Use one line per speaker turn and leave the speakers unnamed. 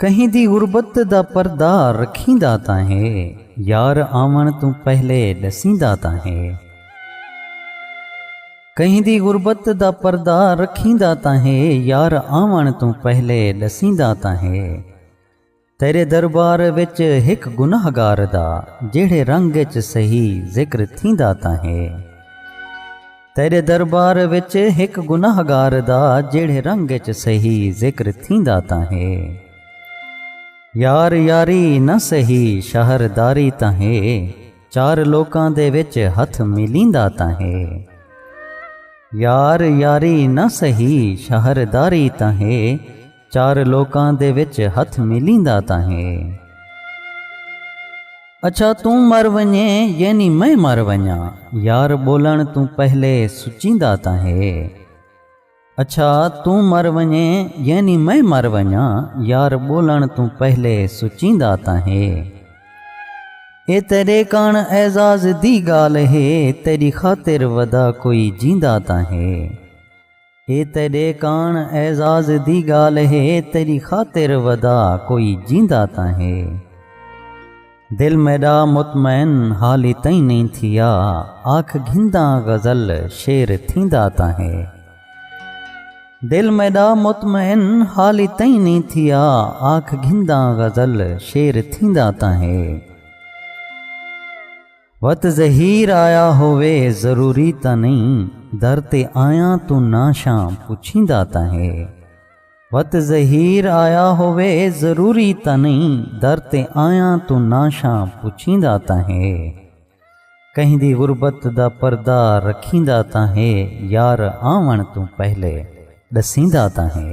کہیں دی غربت دا پردہ رکھیندا تاں ہے یار آوݨ توں پہلے ݙسیندا تاں ہے کہیں دی غربت دا پردہ رکھیندا تاں ہے یار آوݨ توں پہلے ݙسیندا تاں ہے تیرے دربار وچ ہک گنہگار دا جیڑھے رنگ اچ سہی ذکر تھیندا تاں ہے تیرے دربار وچ ہک گنہگار دا جیڑھے رنگ اچ سہی ذکر تھیندا تاں ہے یار یاری نہ سہی شہر داری تاں ہے چار لوکاں دے وچ ہتھ ملیندا تاں ہے یار یاری نہ سہی شہر داری تاں ہے چار لوکاں دے وچ ہتھ ملیندا تاں ہے۔ اچھا توں مر ونجیں یعنی میں مر ونجاں یار ٻولݨ توں پہلے سچیندا تاں ہے۔ اچھا توں مر ونجیں یعنی میں مر ونجاں یار ٻولݨ توں پہلے سچیندا تاں ہے۔ اے تیݙے کݨ اعزاز دی ڳالھ ہے تیݙی خاطر ودا کوئی جیندا تاں ہے۔ اے تیڈے کانڑ اعزاز دی گالھ ہے تیڈی خاطر ودا کوئی جیندا تاں ہے دل میڈا مطمئن حالی تئیں نئیں تھیا آکھ گھنداں غزل شعر تھیندا تاں ہے دل میڈا مطمئن حالی تئیں نئیں تھیا آکھ گھنداں غزل شعر تھیندا تاں ہے وت ظہیر آیا ہووے ضروری تاں نہیں در تے آیاں توں ناشاں پچھیندا تاں ہے وت ظہیر آیا ہووے ضروری تاں نہیں در تے آیاں توں ناشاں پچھیندا تاں ہے کہیں دی غربت دا پردہ رکھیندا تاں ہے یار آون توں پہلے ڈسیندا تاں ہے